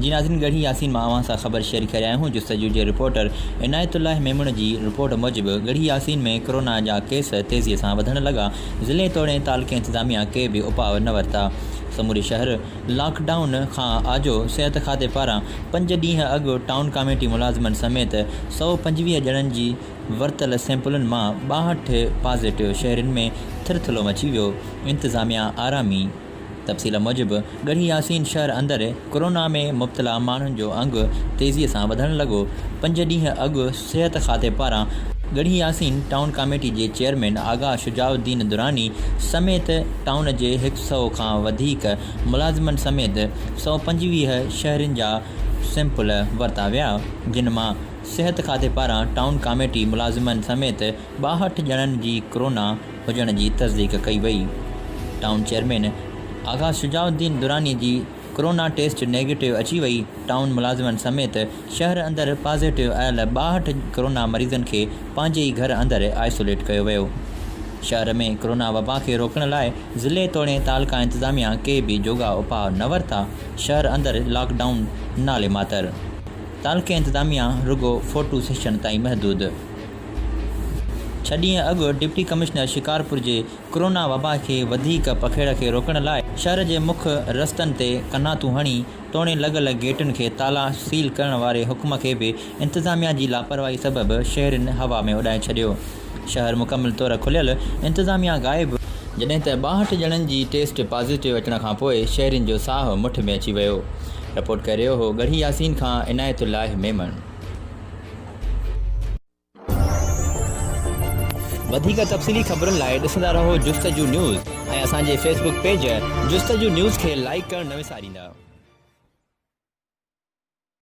جي ناظرين ڳڙهي ياسين مان اوهان سان خبر شيئر ڪري رهيا آهيون جستجو جي رپورٽر عنايت الله ميمڻ جي رپورٽ موجب ڳڙهي ياسين ۾ ڪورونا جا ڪيس تيزي سان وڌڻ لڳا ضلعي توڙي تعلقي انتظاميا ڪي به اپاء نه ورتا سموري شهر لاڪ ڊائون کان آجو صحت کاتي پاران پنج ڏينهن اڳ ٽائون ڪاميٽي ملازمن سميت سؤ پنجويهه ڄڻن جي ورتل سيمپلن مان ٻاهٺ پازيٽو شهرين ۾ ٿرٿلو مچي ويو، انتظاميا آرامي تفصيل موجب ڳڙهي ياسين شهر اندر ڪورونا ۾ مبتلا ماڻهن جو انگ تيزي سان وڌڻ لڳو، پنج ڏينهن اڳ صحت کاتي پاران ڳڙهي ياسين ٽائون ڪاميٽي جي چيئرمين آغا شجاع الدين دراني سميت ٽائون جي هڪ سئو کان وڌيڪ ملازمن سميت سؤ پنجويهه شهرين جا سيمپل ورتا ويا جن مان صحت کاتي پاران ٽائون ڪاميٽي ملازمن سميت ٻاهٺ ڄڻن جي ڪرونا هجڻ جي تصديق ڪئي وئي، ٽائون چيئرمين آغا شجاع الدين دراني جي ڪرونا ٽيسٽ نيگيٽو اچي وئي، ٽائون ملازمن سميت شهر اندر پازيٽو آيل ٻاهٺ ڪرونا مريضن کي پنهنجي ئي گهر اندر آئسوليٽ ڪيو ويو، شهر ۾ ڪرونا وبا کي روڪڻ لاء ضلعي توڻي تعلقه انتظاميا ڪي به جوڳا اپاء نه ورتا، شهر اندر لاڪ ڊائون نالي ماتر. تعلقي انتظاميا رڳو فوٽو سيشن تائين محدود ڇهه ڏينهن اڳ ڊپٽي ڪمشنر شڪارپور جي ڪرونا وبا کي وڌيڪ پکيڙ کي روڪڻ لاء شهر جي مک رستن تي ڪناتون هڻي توڻي لڳل گيٽن کي تالا سيل ڪرڻ واري حڪم کي به انتظاميا جي لاپرواهي سبب شهرين هوا ۾ اڏائي ڇڏيو. شهر مڪمل طور کليل، انتظاميا غائب. جڏهن ته ٻاهٺ ڄڻن جي ٽيسٽ پازيٽو اچڻ کان پوء شهرين جو ساهه مٺ ۾ اچي ويو. رپورٽ ڪري رهيو هو ڳڙهي ياسين کان عنايت الله ميمڻ. وڌيڪ تفصيلي خبرن لاء ڏسندا رهو جستجو نيوز ۽ اسان جي Facebook page Justuju news کي لائيڪ ڪرڻ نه وساريندا.